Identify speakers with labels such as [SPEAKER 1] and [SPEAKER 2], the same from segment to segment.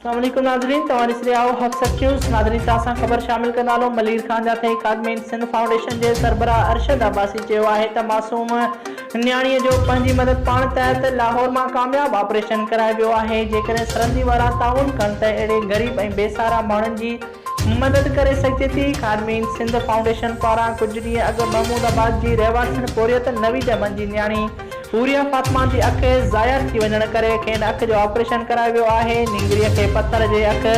[SPEAKER 1] اسلام عليڪم ناظرين توهان ڏسي رهيا آهو هب سچ نيوز ناظرين سان اسان خبر شامل ڪندا هلون ملير خان جا ٿهي خادمين سنڌ فائونڊيشن جي سربراهه ارشد عباسي چيو آهي ته معصوم نياڻي جو پنهنجي مدد پاڻ تحت لاهور مان ڪامياب آپريشن ڪرائي ويو آهي جيڪڏهن سرندي وارا تعاون ڪن ته اهڙي غريب ۽ بي سهارا ماڻهن جي مدد ڪري سگهجي ٿي. خادمين سنڌ فائونڊيشن پاران ڪجهه ڏينهن اڳ محمود آباد جي رهواسين پورهيت نوي ڄمن جي نياڻي حوريه فاطمه جي اک ضايع ٿي وڃڻ ڪري کين اک جو آپريشن ڪرايو ويو آهي نينگريء کي پٿر جي اک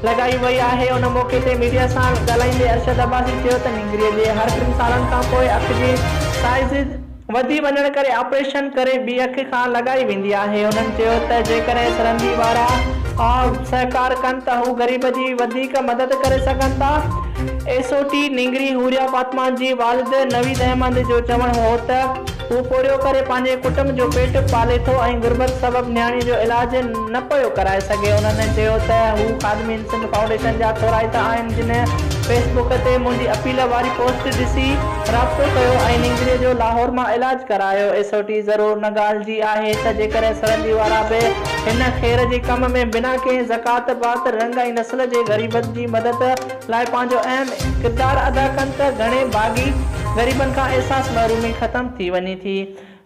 [SPEAKER 1] لڳائي وئي آهي ان موقعي تي ميڊيا سان ڳالهائيندي ارشد عباسي چيو ته نينگريء جي هر ٽن سالن کانپوء اک جي سائيز وڌي وڃڻ ڪري آپريشن ڪري ٻي اک کان لڳائي ويندي آهي. هنن چيو ته جيڪڏهن سرندي وارا سهڪار ڪن ته هو غريب جي وڌيڪ مدد ڪري سگهن ٿا. ايس او ٽي نينگري حوريا فاطمه جي والد نويد احمد جو چوڻ هو ته هو پورهيو ڪري پنهنجي ڪٽنب جو پيٽ پالي ٿو ۽ غربت سبب نياڻي جو علاج نه پيو ڪرائي سگهي. هنن چيو ته هو خادمين سنڌ فائونڊيشن جا ٿورائتا آهن جن فيس بڪ تي منهنجي اپيل واري پوسٽ ڏسي رابطو ڪيو ۽ نينگري جو لاهور مان علاج ڪرايو. ايس او ٽي ضرور نه ڳالهه جي آهي ته جيڪڏهن سرندي وارا به هن خير جي ڪم ۾ بنا ڪنهن زڪوات پات رنگ ۽ نسل جي غريبن جي مدد لاء پنهنجو اهم ڪردار ادا ڪن ته گهڻي ڀاڳي غريبن کان احساس محرومي ختم ٿي وڃي ٿي.